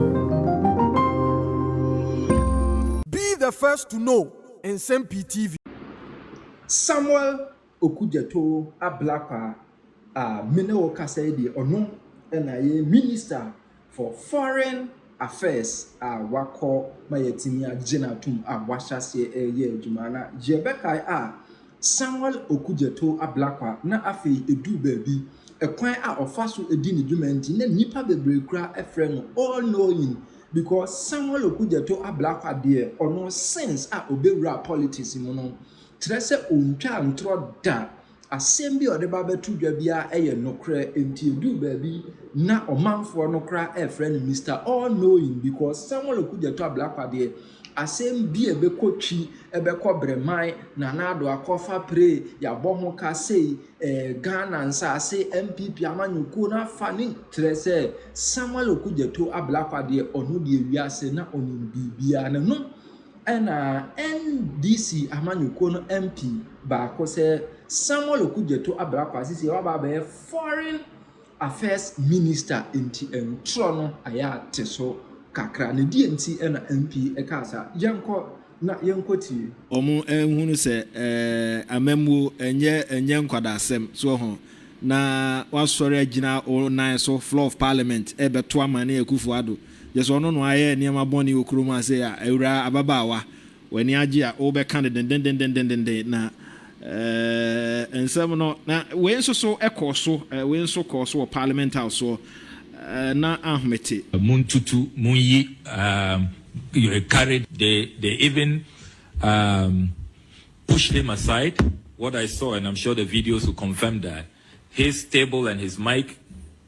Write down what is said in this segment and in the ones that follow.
Be the first to know Nsɛm Pii TV. Samuel Okudzeto Ablakwa a me ne wo kasa yi deɛ ɔno na ɛyɛ Minister for Foreign Affairs a wakɔ ma yɛatumi agyina atom a wahyɛ aseɛ reyɛ adwuma. Na yɛbɛkae a Samuel Okudzeto Ablakwa na afei eduu baabi, kwan a ɔfa so di ne dwuma nti na nnipa bebree koraa frɛ no All Knowing because Samuel Okudzeto Ablakwa deɛ ɔno since a ɔbɛwuraa politics mu no, kyerɛ sɛ ɔntwaa ntorɔ da, asɛm bi a ɔde ba bɛto dwa biara yɛ nokorɛ nti ɛduu baabi na ɔmanfoɔ no koraa frɛ no Mister All Knowing because Samuel Okudzeto Ablakwa deɛ Asɛm bi a ɛbɛkɔ Twi, ɛbɛkɔ Breman, Nana Addo akɔfa pre, yɛabɔ ho ka sei, eh, Ghana nsase, NPP amanyɔkuo no afa ne Kyerɛ sɛ, Samuel Okudzeto Ablakwa deɛ, ɔno deɛ wiase na ɔnim biribiara. Na no ɛna NDC amanyɔkuo no MP baako sɛ, Samuel Okudzeto Ablakwa sisi waba abɛyɛ foreign Affairs Minister nti ntorɔ no ayɛ ate so kakra na deɛ nti na MP kaa saa, yɛnkɔ na yɛnkɔ tie. Ɔmo nhunu sɛ amammuo ɛnyɛ ɛnyɛ nkwadasɛm, so wɔho, na wasɔre agyina wɔn nan so, floor of parliament, ɛrebɛto amane Akufo Addo, gyesɛ ɔno na wayɛ nneɛma bɔne wɔ kurom ha sei a, awuraa, ababaawa, W'ani agye a wobɛka no dendendendendendendenn na eh, nsɛm no. Na wei nso so kɔɔ so, eh, wei nso kɔɔ so wɔ Parliament House soɔ, eh, na ahomete. Montutu, monyi, um, eh, carried, they, they even, um, pushed him aside, what I saw and I'm sure the videos will confirm that, his table and his mic,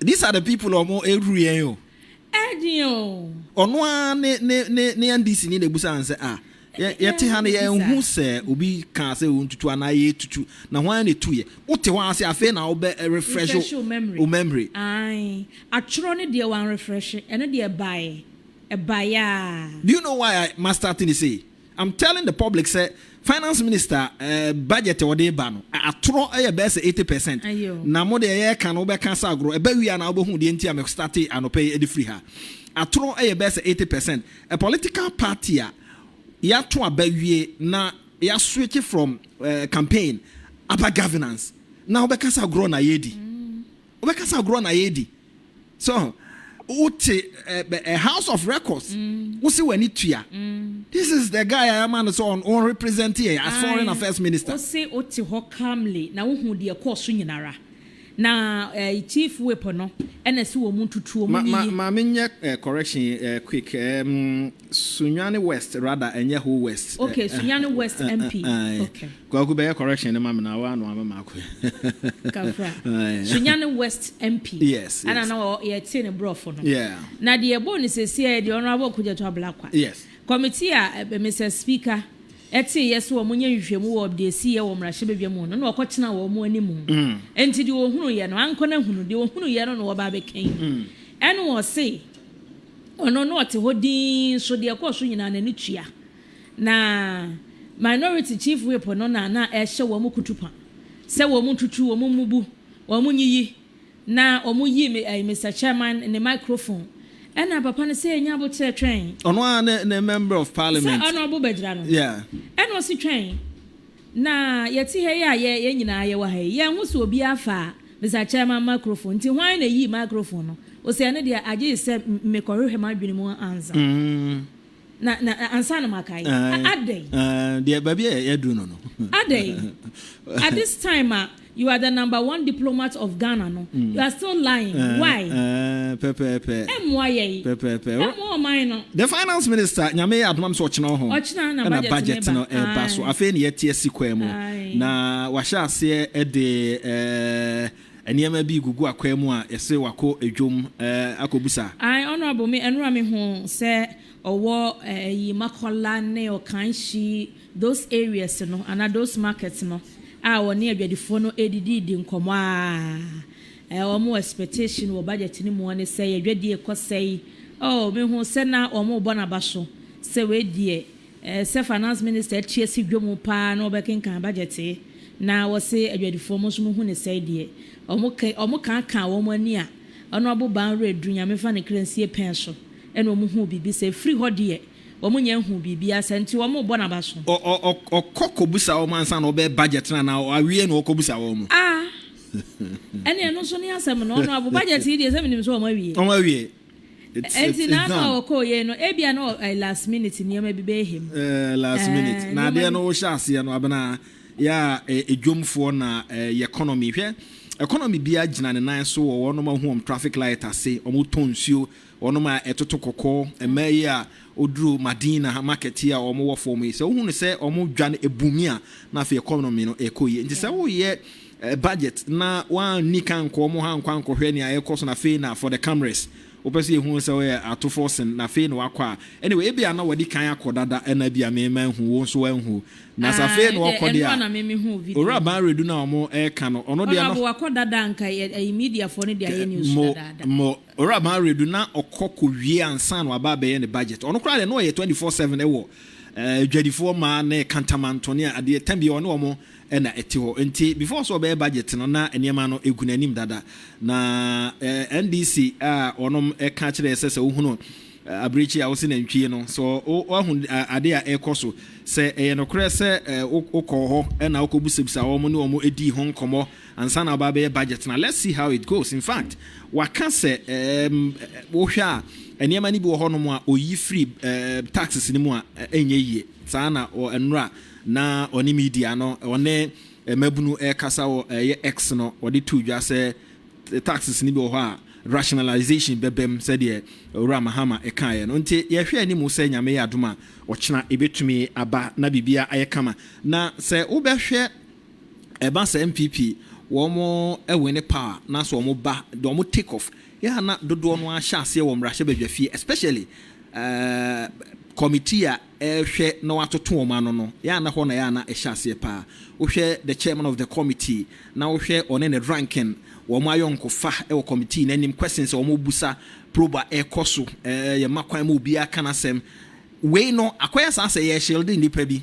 These are the people a wɔn ehuru yɛn o. Ɛɛden o. Ɔno ara ne ne ne ne NDC ni na ebusa wɔn sɛ ah yɛ yɛte ha no yɛn hu sɛ obi kaa sɛ ontutu anaa yɛ tutu na hwan na etu yɛ wote hɔ ase afei na wobɛ refresh o memory. Ae atwerɛ ne deɛ wɔn refresh ɛno deɛ ɛbaeɛ ɛbaeɛ aa. Do you know why I master thing say I'm telling the public sɛ finance minister budget a ɔde ba no atorɔ yɛ bɛyɛ sɛ eighty percent na mo deɛ yɛreka no wobɛka sɛ agorɔ ɛbɛ wia na wobɛhu deɛ nti a me starte anɔpɛ yi de firi ha atorɔ yɛ bɛyɛ sɛ eighty percent a political party a yɛato aba wie na yɛaswitch from uh, campaign aba governance na wobɛka sɛ agorɔ na yɛdi. Wobɛka sɛ agorɔ na yɛredi. So wote ɛ house of records wose w'ani tua. This is the guy a yɛama no sɛ ɔn represent yɛn as foreign affairs minister. Ae wose wote hɔ calmly na wohu deɛ ɛkɔɔ so nyinara. Na ɛ chief whip no ɛna ɛse wɔn ntutuo mu yiyi. Ma ma ma menyɛ ɛ correction ɛ quick ɛɛm. Sunyani West rather ɛnyɛ whole West. Ok Sunyani West MP ok. Kwaku bɛyɛ correction no ma me na wo ano ama me akɔ. Kafra. Sunyani West MP yes ɛna na yɛ tee no brɔfo no yeah na deɛ ɛbɔ no sɛsi ɛyɛ deɛ Honourable Kudzeto Ablakwa yes committee a Mister Speaker ɛtee yɛ sɛ wɔn nyɛ nhwehwɛmu wɔ deɛ ɛsi yɛ wɔ mmarahyɛ badwa mu no na ɔkɔ tena wɔn anim ɛnti deɛ ɔhunu yɛ no ankɔ na hunu deɛ ɔhunu yɛ no na ɔba abɛka yi ɛna ɔse Ɔno na ɔte hɔ dinn so deɛ ɛkɔɔ so nyinaa n'ani tua. Na Minority Chief Whip no na na ɛrehyɛ wɔn kutupa sɛ wɔn ntutu, wɔn mmubu, wɔn nyiyi na wɔn yi Mister Chairman ne microphone. Ɛna papa no sɛ nya aboterɛ twɛn. Ɔno ara ne ne Member of Parliament. Sɛ ɔno ɔbo bɛgyina no. Yeah. Ɛna ɔsi twɛn. Na yɛte ha yi a yɛ yɛn nyinaa yɛwɔ ha yi, yɛnhu sɛ obiara faa Mister Chairman microphone, nti hwan na eyii microphone no? Ose ɛno deɛ agyee sɛ mekɔhwehwɛ m'adwene mu ansa na na ansa na makae. Adɛn? Deɛ baabi a yɛaduru no no. Adɛn? At this time a You are the number one diplomat of Ghana no you are still lying why? Pɛpɛɛpɛ. Ɛmmoa yɛn. Pɛpɛɛpɛ. Ɛmmoa ɔman no. The finance minister nyame yɛ adoma m sɛ ɔkyena hɔ Ɔkyena na ɛna budget budget no no ɛba. ɛba so Aye. afei ne yɛte asi kwan mu Aye. na wahyɛ aseɛ de eh, nneɛma bi gugu akwan mu a yɛse wakɔ dwom eh, akɔbusa Aye honourable me ɛnora me hu sɛ ɔwɔ ɛyi Makola ne Okanshi Those areas no anaa those markets no a wɔne adwadifoɔ no redidi redi nkɔmmɔ ara, wɔn expectation wɔ budget no mu ara ne sɛ yɛn adwadie rekɔ sɛe. Oh, mehuu sɛ na wɔrebɔ no aba so sɛ wei deɛ, ɛɛ sɛ finance minister atu asi dwa mu pa ara na wɔbɛkenkan budget yi na wɔse adwadifoɔ mo nso mohu ne sɛe deɛ. Wɔn ke, wɔn kaakaa wɔn ani a, Honourable Baa Werɛ Aduru, Nyame mfa ne kra nsie pɛn so, ɛna wɔhuu biribi sɛ ɛfiri hɔ deɛ, Wɔnnya nhuu biribiara, saa nti wɔrebɔ no abaso. Ɔkɔ kɔbisa wɔn ansa na ɔbɛyɛ budget no anaa awie na ɔkɔbisa wɔn? Ah! Ɛnneɛ ɛno nso ne asɛm no, ɔno abo budget yi deɛ sɛ menim sɛ wɔawie. Wɔawie. It's, Ɛnti it's, it's n'afa a ɔkɔɔ yei no, ebia na ɔ- eh, last minute nneɛma bi bɛyɛ hem. Eh, last minute. Eh, Na nneɛma adeɛ bi- no wohyɛ aseɛ no abena yɛ a eh, edwomfoɔ na eh, yɛ economy. Hwɛ economy biara gyina ne nan so wɔ wɔnom a wohu wɔn traffic light ase, wɔtɔ nsuo, Wɔnom a ɛtoto kɔkɔ, mmaa yi a wɔduru Madina market yi a wɔn wɔ fam yi, sɛ wohu no sɛ wɔn dwa no abu mi a, na afei economy no ɛrekɔ yie. Nti sɛ woyɛ budget na woanni kan ankɔ wɔn hɔ ankɔ ankɔhwɛ nea ɛrekɔ so na afei na for the cameras, wopɛ sɛ yɛhu wo sɛ woyɛ atofo sen na afei na woakɔ a, anyway, ebia na wɔadi kan akɔ dada na ebia me manhu, wo nso woanhu. Na sɛ afei na wɔkɔ deɛ a, Owura Ban Redu no a wɔreka no, ɔno deɛ no. Honourable, wakɔ dada a, anka yɛ, ɛyi, mediafoɔ no deɛ ayɛ news dadaada. Mo, mo, Owura Mawere do na ɔkɔ kowie ansa na ɔaba abɛyɛ ne budget. Ɔno koraa deɛ na ɔyɛ twenty four seven wɔ adwadifoɔ mmaa ne kantamanto ne adeɛ tanbia ɔne wɔn na ɛte hɔ. Nti before sɛ ɔbɛyɛ budget no na nneɛma no gu n'anim dada. Na NDC a wɔnom ka kyerɛ yɛ sɛ sɛ wohunu abirekyi a wose nantwie no sɛ woahu adeɛ a ɛrekɔ so sɛ ɛyɛ nokorɛ sɛ wokɔɔ hɔ na wokɔbusabusaa wɔn ne wɔn dii ho nkɔmmɔ ansa na ɔba bɛyɛ budget na let's see how it goes in fact waka sɛ ɛɛm wohwɛ a nneɛma no bi wɔ hɔnom a oyi firi ɛɛm taxes no mu a ɛnyɛ yie saa na nnora na ɔne media no ɔne mmabunu ɛrekasa wɔ ɛyɛ X no ɔde too dwa sɛ taxes no bi wɔ hɔ a rationalization bɛbam sɛdeɛ owura Mahama ɛkaeɛ no nti yɛhwɛ anim sɛ nyame yɛ adom a ɔkyena ɛbɛtumi aba na biribiara ayɛ kama na sɛ wobɛhwɛ Ɛba saa NPP wɔn wene power na sɛ wɔn ba de wɔn take off yɛ a na dodoɔ no ara hyɛ aseɛ wɔ mmarahyɛ badwa fie especially ɛɛɛ committee a ɛrehwɛ na wɔatoto wɔn ano no yɛ a na hɔ na yɛ a na ɛhyɛ aseɛ paa wohwɛ the chairman of the committee na wohwɛ ɔne ne ranking wɔn ayɔnkofa wɔ committee no anim questions a wɔn busa probe a ɛkɔ so ɛɛ yɛ ma kwan ma obiara ka n'asɛm wei no akɔyɛ saa sɛ yɛ shield nnipa bi.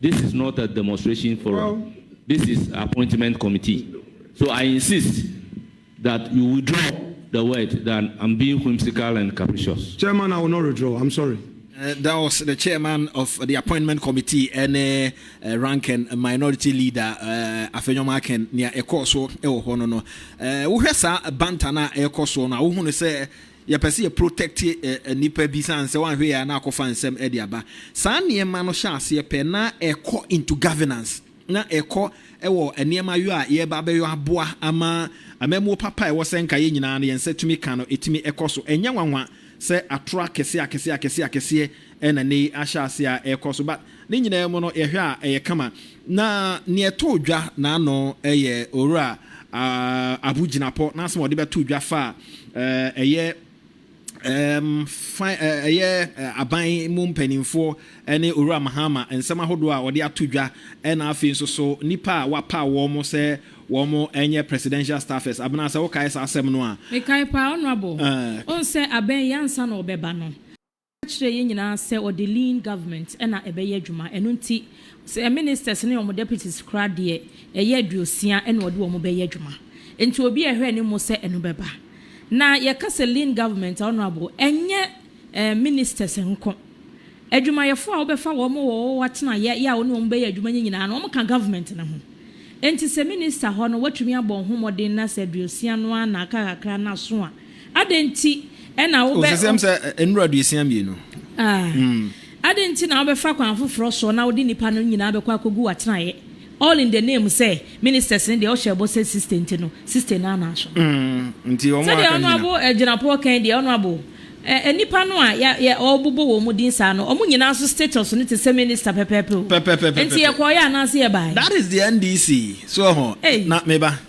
This is not a demonstration forum, this is appointment committee so I insist that you withdraw the word than I'm being whimsical and capricious. Chairman, I will not withdraw, I'm sorry. That was the chairman of the appointment committee ɛne rank and minority leader Afenyom Aken nea ɛkɔɔ so wɔ hɔ no no. Wohwɛ saa banter no a ɛrekɔ soɔ no a, wohunu sɛ Yɛpɛ sɛ yɛ protect nnipa bi sane sɛ wanhwɛ yie a na akɔfa nsɛm de aba. Saa nneɛma no hyɛ aseɛ pɛ na ɛkɔ into governance na ɛkɔ wɔ nneɛma yɔ a yɛreba abɛyɔ aboa ama amammuo papa a ɛwɔ sɛ nka yɛn nyinaa no yɛn nsa tumi ka no ɛtumi kɔ so. Ɛnyɛ nwanwa sɛ atorɔ akɛseɛ akɛseɛ akɛseɛ akɛseɛ Ɛna nnɛ yi ahyɛ ase a ɛrekɔ so. But ne nyinaa mu no yɛhwɛ a ɛyɛ kama. Na nea ɛtoo dwa n'ano yɛ Owura Abu Gyinapɔ n'asɛm a ɔde bɛtoo dwa faa ɛyɛ fan ɛyɛ aban mu mpanimfoɔ ne Owura Mahama nsɛm ahodoɔ a ɔde ato dwa ɛna afei nso so nnipa a wapaw wɔn sɛ wɔn nyɛ Presidential Staffers. Abena sɛ wokae saa asɛm no a. Mekae paa Honourable. Wohu sɛ abɛn yɛ ansa na ɔbɛba no. Ɔka kyerɛɛ yɛn nyinaa sɛ ɔde lean government na ɛbɛyɛ adwuma, ɛno nti sɛ ministers ne wɔn deputies koraa deɛ ɛyɛ aduosia na ɔde wɔn bɛyɛ adwuma, nti obi a ɛhwɛ anim sɛ ɛno bɛba. Na yɛka sɛ lean government a Honourable, ɛnyɛ ɛɛ ministers nko, adwumayɛfoɔ a wobɛfa wɔn wɔ wo atenaeɛ yɛ a wo ne wɔn bɛyɛ adwuma no nyinaa no wɔka government no ho. Nti sɛ minister hɔ no watumi abɔ ho mmɔden na sɛ aduosia no ara na aka kakra no aso a, Adɛn nti na wobɛ. Ɔsesɛm sɛ nnuru aduosia mmienu. Hmm. Adɛn nti na wobɛfa kwan foforɔ soɔ na wode nnipa no nyinaa bɛkɔ akɔgu w'atenaeɛ? All in the name sɛ ministers no deɛ ɔhyɛ bɔ sɛ sixty nti no sixty no anan so. Hmm. Nti wɔn a aka nyina. Sɛdeɛ ɔno abo agyinapoɔ kan deɛ ɔno abo eh, nnipa no a yɛ yɛ ɔbobɔ wɔn mu din saa no wɔn nyinaa nso status no te sɛ minister pɛpɛɛpɛ o. Pɛpɛpɛpɛpɛ. Nti yɛkɔɔyɛ anaasɛ yɛbaeɛ? That is the NDC. So ho. Hey. Na meba.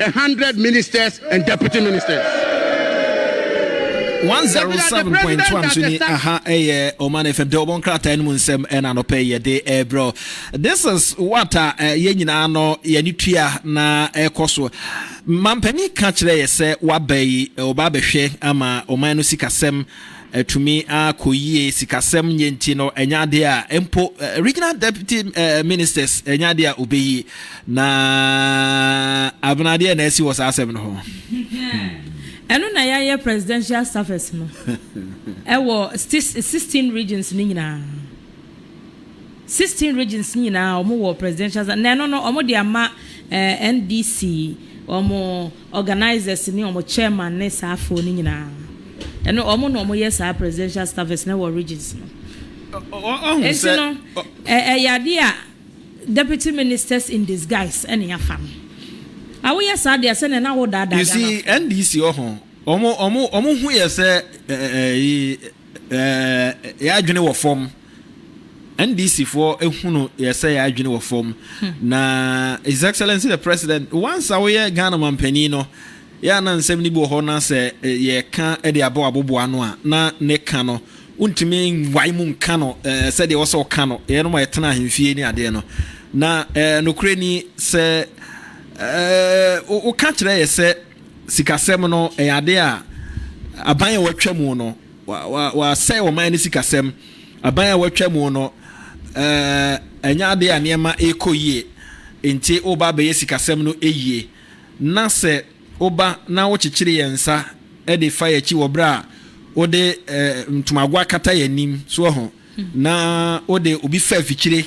A hundred ministers and deputy ministers. one zero seven point two nso ni aha ɛyɛ Oman FM de ɔbɔ nkrataa no mu nsɛm ɛna anɔpɛ yɛ de ɛbrɛ this is what a eh, yɛn nyinaa no yɛne tua na ɛkɔ so mampanin ka kyerɛ yɛ sɛ waba yi ɔba eh, abɛhwɛ ama ɔman no sikasɛm. Atumi akɔ yie. Sikasɛm nyɛ nti no, ɛnyɛ adeɛ a mpo Regional Deputy Ministers ɛnyɛ adeɛ a ɔbɛyi. Na Abena adeɛ na asi wɔ saa asɛm no ho. Ɛno na yɛayɛ Presidential Staffers no wɔ sixteen regions no nyinaa. Sixteen regions nyinaa wɔwɔ Presidential Staff na ɛno no wɔde ama NDC wɔn. Organisers ne wɔn chairman ne saa foɔ no nyinaa ɛno wɔn na wɔn yɛ saa presidential staffers no wɔ regions no nti no ɛyɛ adeɛ a deputy ministers in disguise ɛna yɛafa no a woyɛ saa deɛ sɛ na na wo daadaa Ghana fo. You see NDC wɔ ho wɔn wɔn wɔn ho yɛ sɛ ɛɛ ɛɛ yɛ adwene wɔ fam. NDC foɔ ehunu yɛsɛ yɛ adwene wɔ fam na His Excellency the President once a woyɛ Ghana manpanin no yɛ ana nsɛm no bi wɔ hɔ na sɛ yɛka de abɔ aboboa ano a na ne ka no wontumi nwae mu nka no sɛdeɛ wɔ sɛ ɔka no yɛ no ma yɛtena ahemfie ne adeɛ no na nokorɛ ni sɛ woka kyerɛ yɛ sɛ sikasɛm no ɛyɛ adeɛ a aban a wɔatwa mu no Wɔasɛe ɔman no sikasɛm. Aban a wɔatwa mu no, ɛnyɛ ade a nneɛma rekɔ yie. Enti woreba abɛyɛ sikasɛm no yie, na sɛ woba na wokyekyere yɛn nsa de fa yɛn akyi wɔ berɛ a wode ntomago akata yɛn anim, so ahu, na wode obi fa afikyire,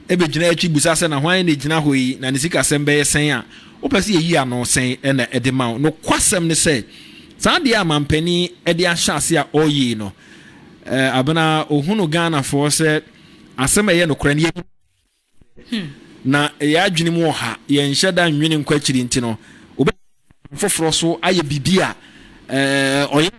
begyina akyi bisa sɛ, 'Na hwan na egyina hɔ yi, na ne sikasɛm bɛyɛ sɛn? a, wopɛ sɛ yeyi ano sɛn na ɛde ma wo? Nokwasɛm ne sɛ, saa adeɛ a manpanin de ahyɛ ase a ɔreyɛ yi no, Abena, ɔhunu Ghanafoɔ sɛ asɛm a ɛyɛ nokorɛ no, yɛnim sɛ ɛyɛ nokorɛ, na yɛn adwene mu ɔha, yɛnhyɛ da nnwene nkɔ akyiri nti no, wobɛtumi de nam foforɔ so ayɛ biribi a ɔyɛ no.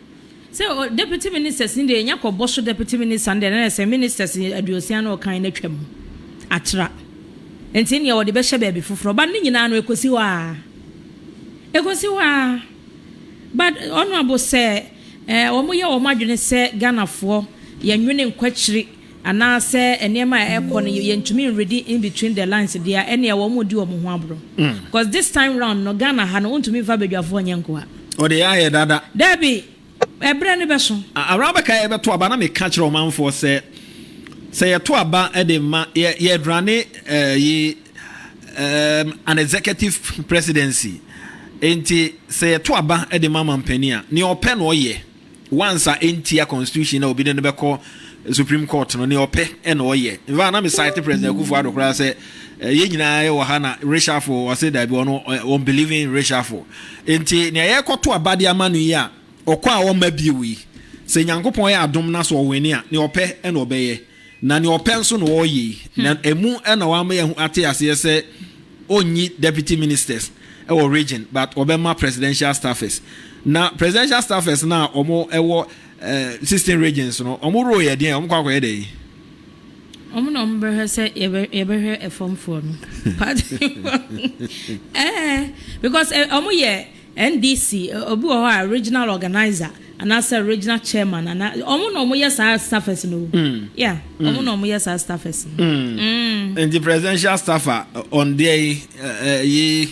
Sɛ o deputy ministers no deɛ nya kɔ bɔ so deputy minister no deɛ na sɛ ministers aduosia na ɔkan no atwa mu atra nti neɛ wɔde bɛhyɛ baabi foforɔ but ne nyinaa no ɛkɔsi hɔ aa ɛkɔsi hɔ aa but honourable sɛ eh, wɔn yɛ wɔn adwene sɛ Ghanafoɔ yɛnwene nkwakyiri Anaasɛ nneɛma a ɛrekɔ no yɛntumi nredi in between the lines deɛ a, ɛnneɛ wɔn redi wɔn ho aborɔ. Cos this time round no, Ghana ha no, wontumi mfa badwafoɔ nyɛ nkoa. O deɛ ayɛ dada. Daabi, ɛberɛ no bɛso. Awura bɛka yɛbɛto aba, na meka kyerɛ ɔmanfoɔ sɛ, sɛ yɛto aba de ma, yɛ, yɛrane eh, yi um, an executive presidency. Enti, sɛ yɛto aba de ma mampanin a, nea ɔpɛ na ɔyɛ. Once a entia constitution na obi ne no bɛkɔ supreme court no ne ɔpɛ na ɔyɛ nfa na me site president akufo ado koraa sɛ yɛn nyinaa yɛ wɔ ha na reshuffle ɔse daabi ɔno ɔn believe in reshuffle nti nea yɛkɔto abade ama no yi a ɔkɔ a ɔma bio yi sɛ nyankopɔn yɛ adom na so ɔwene a ne ɔpɛ na ɔbɛyɛ Na nea ɔpɛ nso na ɔreyɛ yi. Na ɛmu na wama yɛahu ate aseɛ sɛ ɔnnyi deputy ministers wɔ region but ɔbɛma presidential staffers. Na presidential staffers no a wɔwɔ sixteen regions no, wɔn role yɛ deɛn? Wɔkɔ akɔyɛ dɛn? Wɔn na wɔbɛhwɛ sɛ yɛbɛhwɛ fam foɔ no party foɔ. Ɛɛ because wɔyɛ. NDC, obi wɔ hɔ a regional organiser anaasɛ regional chairman anaa wɔn na wɔn yɛ saa staffers no o. Mm. Yeah, wɔn mm. na wɔn yɛ saa staffers no. Mm. Mm. Nti presidential staffer on deɛ yi ɛyi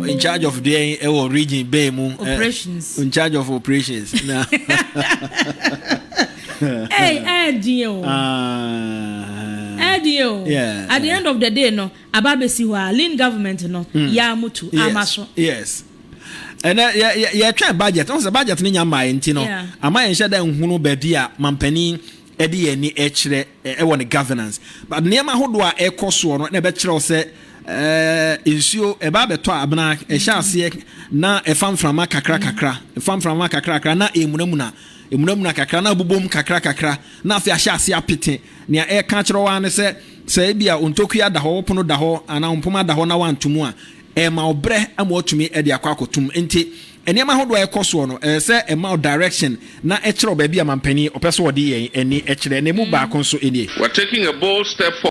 in charge of deɛ yi ɛwɔ region bɛɛ mu. Eh, operations. In charge of operations. Ɛɛ ɛɛ diɛ o. Ɛɛ diɛ o. At the end of the day no. Aba abɛsi hɔ a Lynn government no yɛ a motu ama so. Yes ɛnɛ yɛtwɛn budget ɔn sɛ budget no nya mmaeɛ nti no ama yɛnhyɛ da nhunu baabi a mampanin ɛde yɛn ani ɛkyerɛ ɛwɔ ne governance but nneɛma ahodoɔ a ɛkɔ soɔ no na ɛbɛkyerɛ wo sɛ Eh, nsuo ɛba abɛtɔ a abena ɛhyɛ aseɛ na ɛfa mframa kakra kakra ɛfa mframa kakra kakra na ɛmunamuna ɛmunamuna kakra na abobom kakra kakra na afei ahyɛ aseɛ apete nea ɛka kyerɛ wɔn ano sɛ Sɛ ebia wo ntokua da hɔ, wo pono da hɔ, anaa wo mpoma da hɔ na woanto mu a, ɛrema wo brɛ ama woatumi de akɔ akɔto mu. Enti, nneɛma ahodoɔ a ɛkɔ soɔ no, ɛsɛ sɛ ɛma wo direction na ɛkyerɛ wo baabi a mampanin ɔpɛ sɛ ɔde yɛn ani kyerɛ. Na ɛmu baako nso nie. We're taking a bold step forward.